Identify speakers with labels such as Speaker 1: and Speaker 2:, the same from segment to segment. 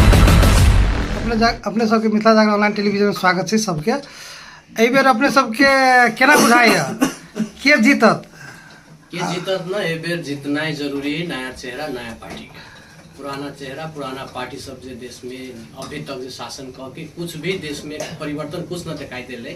Speaker 1: अपने जा अपने सबके मिथिला जागरण ऑनलाइन टेलीविजन स्वागत छै सबके एहि बेर अपने सबके केना बुझाइए के जीतत के जीतत
Speaker 2: ना एहि बेर जीतनाइ जरूरी है नया चेहरा नया पार्टी के पुराना चेहरा पुराना पार्टी सब जे देश में अभी तक जे शासन कऽ के कुछ भी देश में परिवर्तन कुछ न दिखाई देले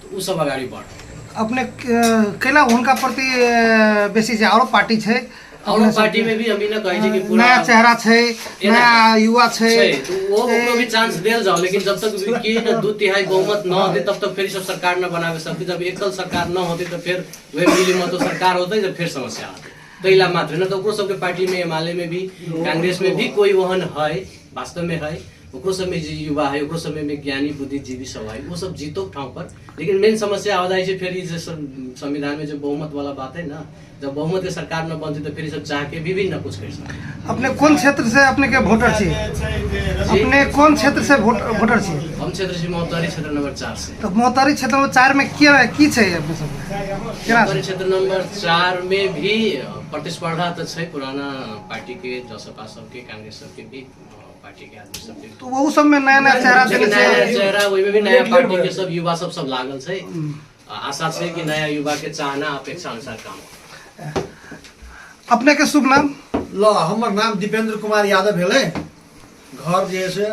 Speaker 2: तऽ ओ सब अगाडि बढ अपने
Speaker 1: कैला उनका प्रति बेसी चाहिँ आरो पार्टी छै और पार्टी में
Speaker 2: भी हम ई ना कहै छै कि पूरा नया चेहरा छै
Speaker 1: नया युवा छै तो वो ओकरो
Speaker 2: भी चांस देल जाओ लेकिन जब तक के न दू तिहाई बहुमत न होते तब तक फिर सब सरकार न बनावे सकते जब एकल सरकार न होते तो फिर वे मिली मत तो सरकार होते जब फिर समस्या आते तैला मात्र न तो ओकरो सबके पार्टी में एमाले में भी कांग्रेस में भी कोई वहन है वास्तव में है ओकरो सबमे जे युवा है ओकरो सबमे में ज्ञानी बुद्धिजीवी सब है वो सब जीतो ठाव पर लेकिन मेन समस्या हो जाइ छै फेर ई जे सब संविधान में जो बहुमत वाला बात है ना जब बहुमत के सरकार में बनते तो फिर ई सब चाह के भी भी ना कुछ कर सकते अपने कोन क्षेत्र से
Speaker 1: अपने के वोटर छी अपने कोन क्षेत्र से वोट- वोटर छी हम क्षेत्र से मौतारी
Speaker 2: क्षेत्र नंबर चार से तो मोहतारी क्षेत्र में
Speaker 1: चार में की की छै अपने सब केना मौतारी छै क्षेत्र
Speaker 2: नंबर चार में भी प्रतिस्पर्धा तो छै पुराना पार्टी के जसपा सबके कांग्रेस सबके भी तो वो सब में नया
Speaker 1: नया चेहरा देने नया नया से चेहरा ओहिमे
Speaker 2: भी नया पार्टी के सब युवा सब सब लागल छै आ आशा छै कि नया युवा के चाहना अपेक्षा अनुसार काम होतै।
Speaker 1: अपने के शुभ नाम ल हमर नाम
Speaker 3: दीपेन्द्र कुमार यादव भेलै घर जे है से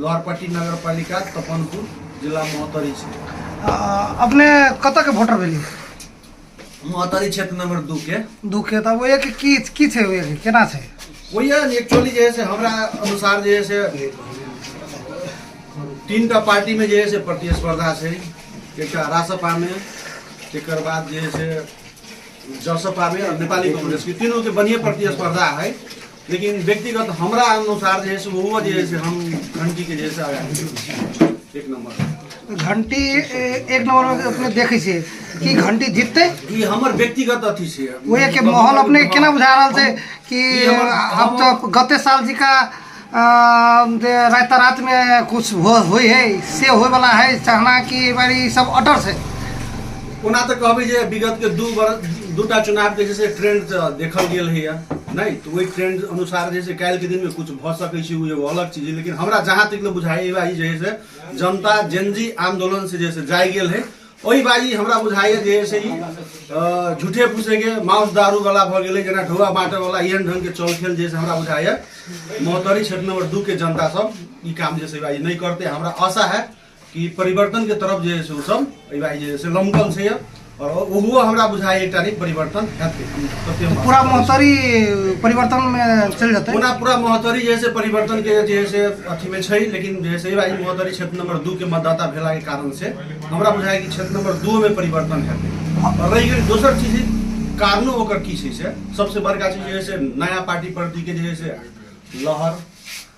Speaker 3: लहरपट्टी नगर पालिका तपनपुर जिला महोत्तरी छै आ, अपने
Speaker 1: कतऽ के वोटर भेली
Speaker 3: मोहतरी क्षेत्र नंबर दू के दू के तब ओहिए के की
Speaker 1: की छै ओहिए के केना छै ओहिए एक्चुअली
Speaker 3: जे है से हमरा अनुसार जे है से तीन टा पार्टी में जे है से प्रतिस्पर्धा छै एक रासपा में एक बाद जे है से जसपा में नेपाली कांग्रेस के तीनों के बढ़िया प्रतिस्पर्धा है लेकिन व्यक्तिगत हमरा अनुसार जे है से वो जे है से हम घंटी के जैसे
Speaker 1: आगा एक नंबर घंटी ए- एक नंबर में अपने देखै छियै कि घंटी जिततै ई हमर व्यक्तिगत
Speaker 3: अथी छै ओहे के माहौल अपने
Speaker 1: के केना बुझा रहल छै कि ई हमर- आब तऽ गते साल जिका अ, जे राति रात मे कुछ हो होइ है से होय वाला है चाहना कि एहि बार ई सब अटर छै ओना
Speaker 3: तऽ कहबै जे विगतके दू वर्ष दूटा चुनावके जे छै ट्रेंड तऽ देखल गेल होइए नहि तऽ ओहि ट्रेंड अनुसार जे छै काल्हिके दिनमे किछु भऽ सकै छै ओ एगो अलग चीज लेकिन हमरा जहाँ तक बुझाइ बाजी जे है से जनता जेनजी आंदोलन से जे है जाय गेल है ओहि बाजी हमरा बुझाइए जे है से झूठे फूसेके माउस दारू वाला भऽ गेलै जेना ढौआ बाँटय वाला एहन ढंग के चौल खेल जे है हमरा बुझाइए महोत्तरी क्षेत्र नंबर दू के जनता सब ई काम जे है से बाजी नहि करते हमरा आशा है कि परिवर्तनके तरफ जे से ओसभ एहि भाइ जे से लमकल छै आओर ओहो हमरा बुझाइ एकटा नहि परिवर्तन हेतै सत्यम बात। पूरा महतरी
Speaker 1: परिवर्तन में चल जाते पूरा पूरा महोत्तरी जे है से
Speaker 3: परिवर्तन के जे है से अथी में छै लेकिन जे है से एहि महोत्तरी क्षेत्र नंबर दू के मतदाता भेला के कारण से हमरा बुझाय कि क्षेत्र नंबर दू में परिवर्तन हेतै और रहि गेल दोसर चीज कारणो ओकर की छै से सबसे बड़का चीज जे है से नया पार्टी प्रति के जे है से लहर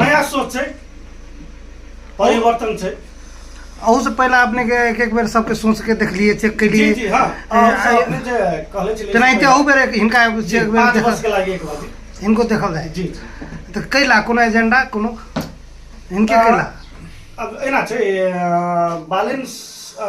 Speaker 4: नया सोच छै परिवर्तन छै अहू से पहले
Speaker 1: अपने के एक एक बेर सबके सोच के देखलिए चेक जी केलिए जी हाँ ए, और सब
Speaker 4: अपने जे कहले छलिए तेनाहिते अहू बेर एक- हिनका
Speaker 1: एक- जी, एक बेर पाँच देखल- वर्ष के लागी
Speaker 4: एक
Speaker 1: बार
Speaker 4: हिनको देखल जाए जी जी
Speaker 1: तो
Speaker 4: कैला
Speaker 1: कोनो एजेंडा कोनो हिनके आ, कैला अब एना
Speaker 4: छै अ, बालेन स- अ,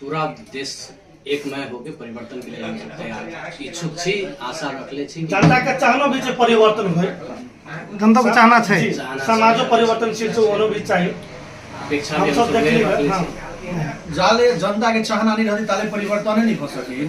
Speaker 2: पूरा देश एक नए होके परिवर्तन के लिए हम सब तैयार छी। इच्छुक छी आशा रखले छी जनता के चाहना भी जे
Speaker 4: परिवर्तन होय जनता को
Speaker 1: चाहना छै जी, समाजो
Speaker 4: परिवर्तनशील छै ओनो भी चाही अपेक्षा हम भी सब हमसब देख
Speaker 2: उहे लेबै रखले हँ
Speaker 4: छी। जाले
Speaker 2: जनता के
Speaker 3: चाहना नहीं रहती ताले परिवर्तन नहीं हो सके